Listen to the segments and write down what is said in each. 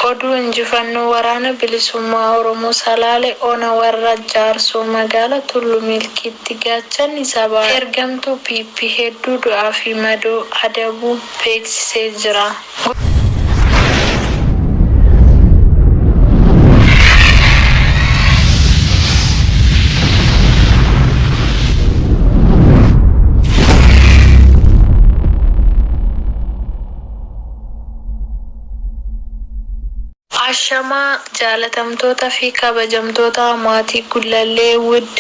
Oduu Injifannoo Waraana Bilisummaa Oromoo Salaale Ona Warra Jaarsoo Magaala Tullu Milkiitti Gaachanni Sabaa Ergamtuu PP Hedduu Du'aa fi Madoo Adabuu Beeksisee Jira. Ashamaa jaalatamtoota fi kabajamtoota maatii Gullallee Wood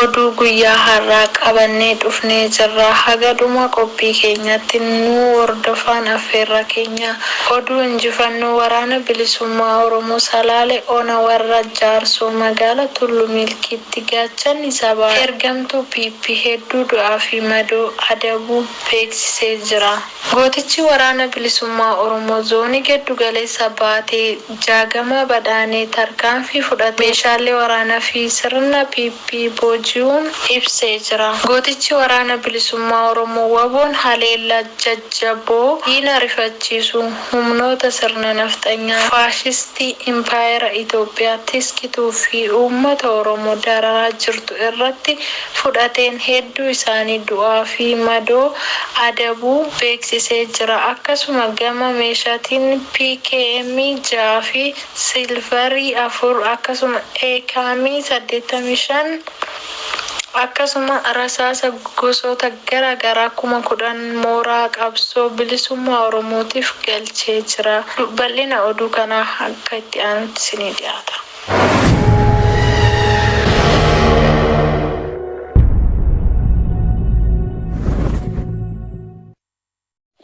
oduu guyyaa har'aa qabannee dhufnee jirra haga dhuma qophii keenyaatti nu hordofaan affeerraa keenya. Oduu injifannoo waraana bilisummaa Oromoo Salaale ona Warra Jaarsoo magaala Tullu Milkiitti gaachanni sabaa ergamtuu PP hedduu du'aa fi madoo adabuu beeksisee jira. Gootichi Waraana Bilisummaa Oromoo Zoonii Geddu Galeessa Baatee Jaagamaa Badhaanee tarkaanfii fudhate meeshaalee waraanaa fi sirna PP booji'uun ibsee jira. Gootichi Waraana Bilisummaa Oromoo Waboon haleellaa jajjaboo diina rifachiisu humnoota sirna nafxanyaa faashistii impaayera Itoophiyaa tiskituu fi uummata Oromoo dararaa jirtu irratti fudhateen hedduu isaanii du'aa fi madoo adabuu beeksisee jira. Akkasuma gama meeshatiin PKM 6 fi Silver 4 akkasuma Akm 85 akkasuma rasaasa gosoota gara garaa 10,000 mooraa qabsoo bilisummaa Oromootiif galchee jira. Bal'ina oduu kanaa akka itti aanutti isinii dhiyaata.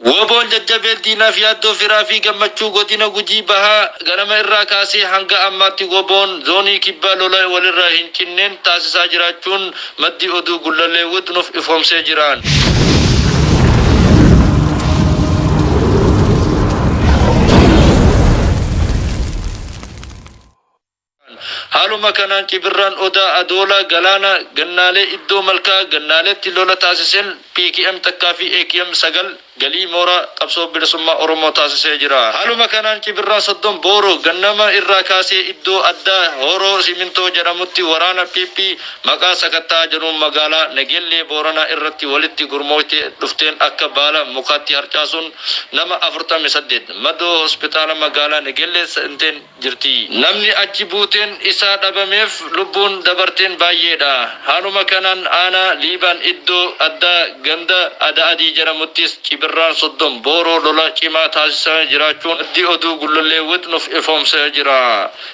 Woboon jajjabeen diinaaf yaaddoo firaa fi gammachuu godina Gujii Bahaa ganama irraa kaasee hanga ammaatti Woboon Zoonii Kibbaa lola walirraa hin cinneen taasisaa jiraachuun maddi oduu Gullallee Wood nuuf ifoomsee jiraan. Haaluma kanaan Cibirraan Odaa Adoolaa Galaanaa Gannaalee iddoo Malkaa Gannaaleetti lola taasiseen PKM takkaa fi akm 9 galii mooraa Qabsoo Bilisummaa Oromoo taasisee jira. Haaluma kanaan Cibirraa Soddon Booroo gannama irraa kaasee iddoo addaa Hooroo Simintoo jedhamutti waraana pp maqaa sakatta'a jedhuun magaalaa Negeellee Booranaa irratti walitti gurmooyte dhufteen akka baala mukaatti harcaasuun nama 48 Madoo Hospitaala Magaalaa Negellee seenteen jirti. Namni achi buuteen isaa dhabameef lubbuun dabarteen baay'eedha. Haaluma kanaan aanaa Liiban iddoo addaa ganda Ada'adii jedhamuttis Cibirraan 30 booroo lola cimaa taasisaa jiraachuun maddi oduu Gullallee Wixx nuf ifoomsee jira.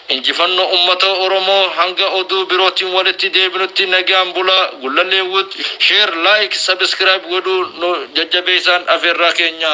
Injifannoo Ummata Oromoo Hanga Oduu Birootiin Walitti Deebinutti Nagaan Bulaa Gullallee Wood Share Like Subscribe Godhuun Nu Jajjabeessaan Afeerraa Keenya.